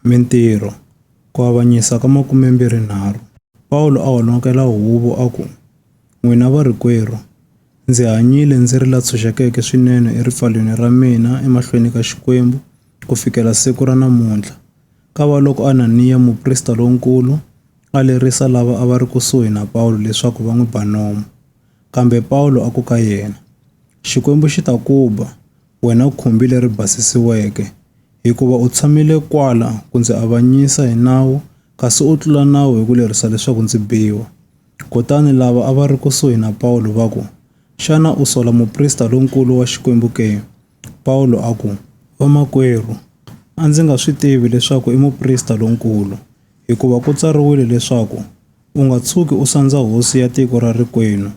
Mintirho, Ku avanyisa ka 23 Pawulo a honokela huvo a ku, N'wina varikwerhu, ndzi hanyile ndzi ri la tshunxekeke swinene eripfalweni ra mina emahlweni ka Xikwembu ku fikela siku ra namuntlha, kavaloko Ananiya muprista lonkulu a lerisa lava a va ri kusuhi na Pawulo leswaku va n'wi ba nomu. Kambe Pawulo a ku ka yena, Xikwembu xi ta ku ba, wena khumbi leri basisiweke, hikuva u tshamile kwala ku ndzi avanyisa hi nawu kasi u tlula nawu hi ku lerisa leswaku ndzi biwa. Kutani lava a va ri kusuhi na Pawulo va ku, Xana u sola muprista lonkulu wa Xikwembu ke? Pawulo a ku, Vamakwerhu, a ndzi nga swi tivi leswaku i muprista lonkulu, hikuva ku tsariwile leswaku, U nga tshuki u sandza hosi ya tiko ra rikwenu.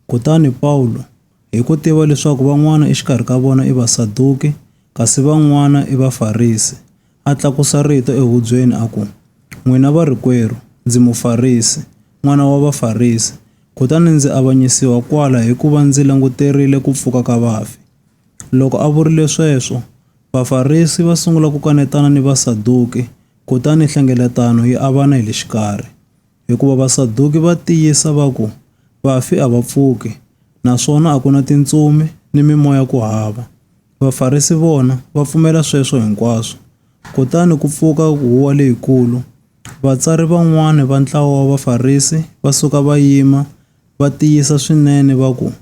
Kutani Pawulo Hi ku tiva leswaku van'wana exikarhi ka vona i Vasaduki, kasi van'wana i Vafarisi, a tlakusa rito ehubyeni a ku, N'wina varikwerhu, ndzi Mufarisi, n'wana wa Vafarisi, kutani ndzi avanyisiwa kwala hikuva ndzi languterile ku pfuka ka vafi. Loko a vurile sweswo, Vafarisi va sungula ku kanetana ni Vasaduki, kutani nhlengeletano yi avana hi le xikarhi. hikuva Vasaduki va tiyisa va ku vafi a va pfuki naswona a ku na tintsumi ni mimoya ku hava. Vafarisi vona va pfumela sweswo hinkwaswo. Kutani ku pfuka huwa leyikulu. Vatsari van'wana va ntlawa wa Vafarisi va suka va yima, va tiyisa swinene va ku,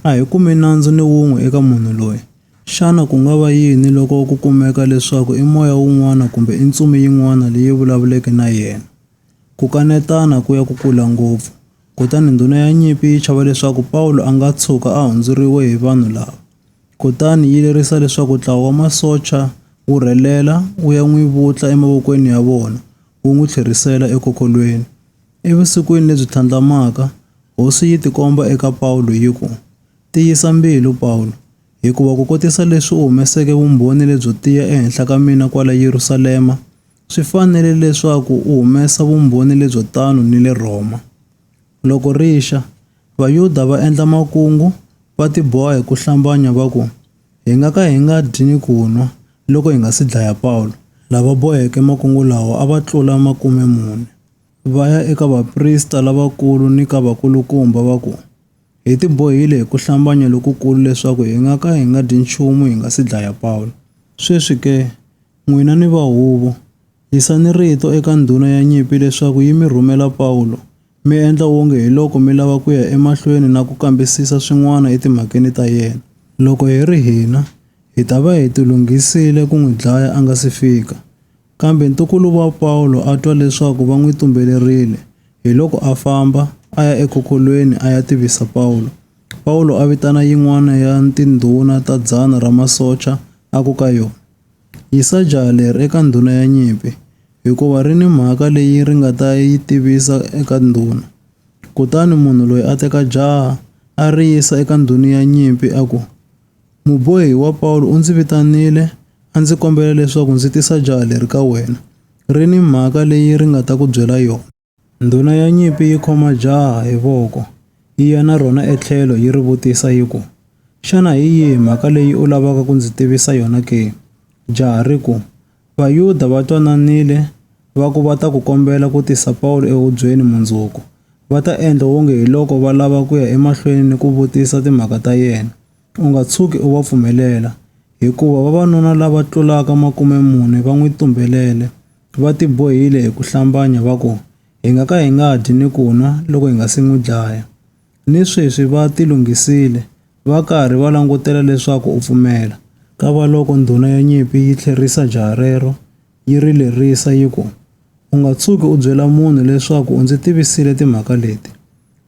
A hi kumi nandzu ni wun'we eka munhu loyi. Xana ku nga va yini loko ku kumeka leswaku i moya wun'wana kumbe i ntsumi yin'wana leyi vulavuleke na yena? Ku kanetana ku ya ku kula ngopfu, kutani ndhuna ya nyimpi yi chava leswaku Pawulo a nga tshuka a hundzuriwe hi vanhu lava. Kutani yi lerisa leswaku ntlawa wa masocha wu rhelela wu ya n'wi vutla emavokweni ya vona wu n'wi tlherisela ekokolweni. Evusikwini lebyi tlhandlamaka, Hosi yi tikomba eka Pawulo yi ku, Tiyisa mbilu, Pawulo, hikuva ku kotisa leswi u humeseke vumbhoni lebyo tiya ehenhla ka mina kwala Yerusalema, Swi fanele leswaku u humesa vumbhoni lebyo tano ni le Rhoma. Loko ri xa, Vayuda va endla makungu, va tiboha hi ku hlambanya va ku, Hi nga ka hi nga dyi ni ku nwa loko hi nga si dlaya Pawulo. Lava boheke makungu lawa a va tlula makume mune. Va ya eka vaprista lavakulu ni ka vakulukumba va ku, Hi tibohile hi ku hlambanya lokukulu leswaku hi nga ka hi nga dyi nchumu hi nga si dlaya Pawulo. Sweswi ke, N'wina ni va huvo, yisani rito eka ndhuna ya nyimpi leswaku yi mi rhumela Pawulo, mi endla wonge hiloko mi lava ku ya emahlweni na ku kambisisa swin'wana etimhakeni ta yena. Loko hi ri hina, hi ta va hi tilunghisile ku n'wi dlaya a nga si fika. Kambe ntukulu wa Pawulo a twa leswaku va n'wi tumbelerile, hiloko a famba, a ya ekhokholweni a ya tivisa Pawulo. Pawulo a vitana yin'wana ya tindhuna ta dzana ra masocha, a ku ka yona, Yisa jaha leri eka ndhuna ya nyimpi, hikuva ri ni mhaka leyi ri nga ta yi tivisa eka ndhuna. Kutani munhu loyi a teka jaha, a ri yisa eka ndhuna ya nyimpi a ku, Mubohi wa Pawulo u ndzi vitanile, a ndzi kombela leswaku ndzi tisa jaha leri ka wena. Ri ni mhaka leyi ri nga ta ku byela yona. Ndhuna ya nyimpi yi khoma jaha hi voko, yi ya na rona etlhelo yi ri vutisa yi ku, Xana hi yihi mhaka leyi u lavaka ku ndzi tivisa yona ke? Jaha ri ku, Vayuda va twananile va ku va ta ku kombela ku tisa Pawulo ehubyeni mundzuku, va ta endla wonge hi loko va lava ku ya emahlweni ni ku vutisa timhaka ta yena. U nga tshuki u va pfumelela, hikuva vavanuna lava tlulaka makume mune va n'wi tumbelele. Va tibohile hi ku hlambanya va ku, Hi nga ka hi nga dyi ni ku nwa loko hi nga si n'wi dlaya. Ni sweswi va tilunghisile, va karhi va langutela leswaku u pfumela. Kavaloko ndhuna ya nyimpi yi tlherisa jaha rero, yi ri lerisa yi ku, U nga tshuki u byela munhu leswaku u ndzi tivisile timhaka leti.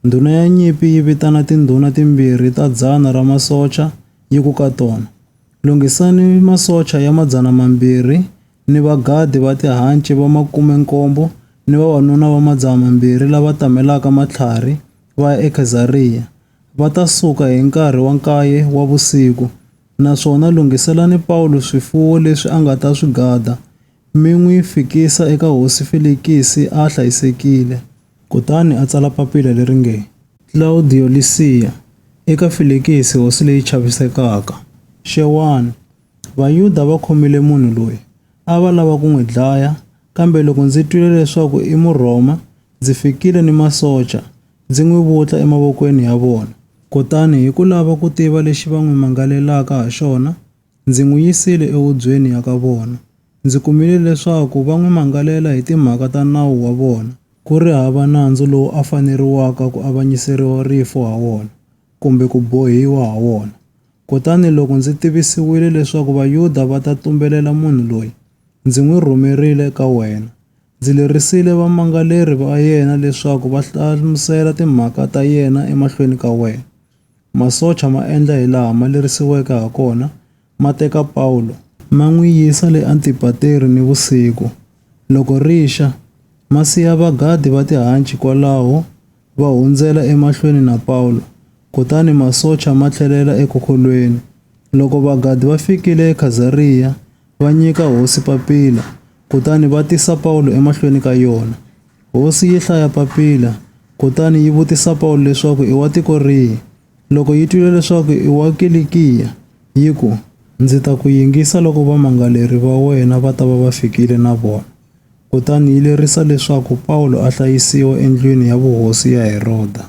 Ndhuna ya nyimpi yi vitana tindhuna timbirhi ta dzana ra masocha yi ku ka tona, Lunghisani masocha ya madzana mambirhi ni vagadi va tihanci va makume-nkombo ni vavanuna va madzaha mambirhi lava tamelaka matlhari va ya eKhezariya, va ta suka hi nkarhi wa nkaye wa vusiku. Naswona lunghiselani Pawulo swifuwo leswi a nga ta swi gada, mi n'wi fikisa eka hosi Felikisi a hlayisekile. Kutani a tsala papila leri nge. Klawudiyo Lisiya, Eka Felikisi hosi leyi chavisekaka. Xewani. Vayuda va khomile munhu loyi, a va lava ku n'wi dlaya, kambe loko ndzi twile leswaku i Murhoma, ndzi fikile ni masocha, ndzi n'wi vutla emavokweni ya vona. Kutani hi ku lava ku tiva lexi va n'wi mangalelaka ha xona, ndzi n'wi yisile ehubyeni ya ka vona. Ndzi kumile leswaku va n'wi mangalela hi timhaka ta nawu wa vona, ku ri hava nandzu lowu a faneriwaka ku avanyiseriwa rifu ha wona. kumbe ku bohiwa ha wona. Kutani loko ndzi tivisiwile leswaku Vayuda va ta tumbelela munhu loyi, ndzi n'wi rhumerile eka wena. Ndzi lerisile vamangaleri va yena leswaku va hlamusela timhaka ta yena emahlweni ka wena. Masocha ma endla hilaha ma lerisiweke hakona, ma teka Pawulo, ma n'wi yisa le Antipateri nivusiku, loko ri xa, ma siya vagadi va tihanci kwalaho va hundzela emahlweni na Pawulo, kutani masocha ma tlhelela ekhokolweni. Loko vagadi va fikile eKhazariya, va nyika hosi papila, kutani va tisa Pawulo emahlweni ka yona. Hosi yi hlaya papila, kutani yi vutisa Pawulo leswaku i wa tiko rihi. Loko yi twile leswaku i wa Kilikiya, yi ku, Ndzi ta ku yingisa loko vamangaleri va wena va ta va va fikile na vona. kutani yi lerisa leswaku Pawulo a hlayisiwa endlwini ya vuhosi ya Heroda.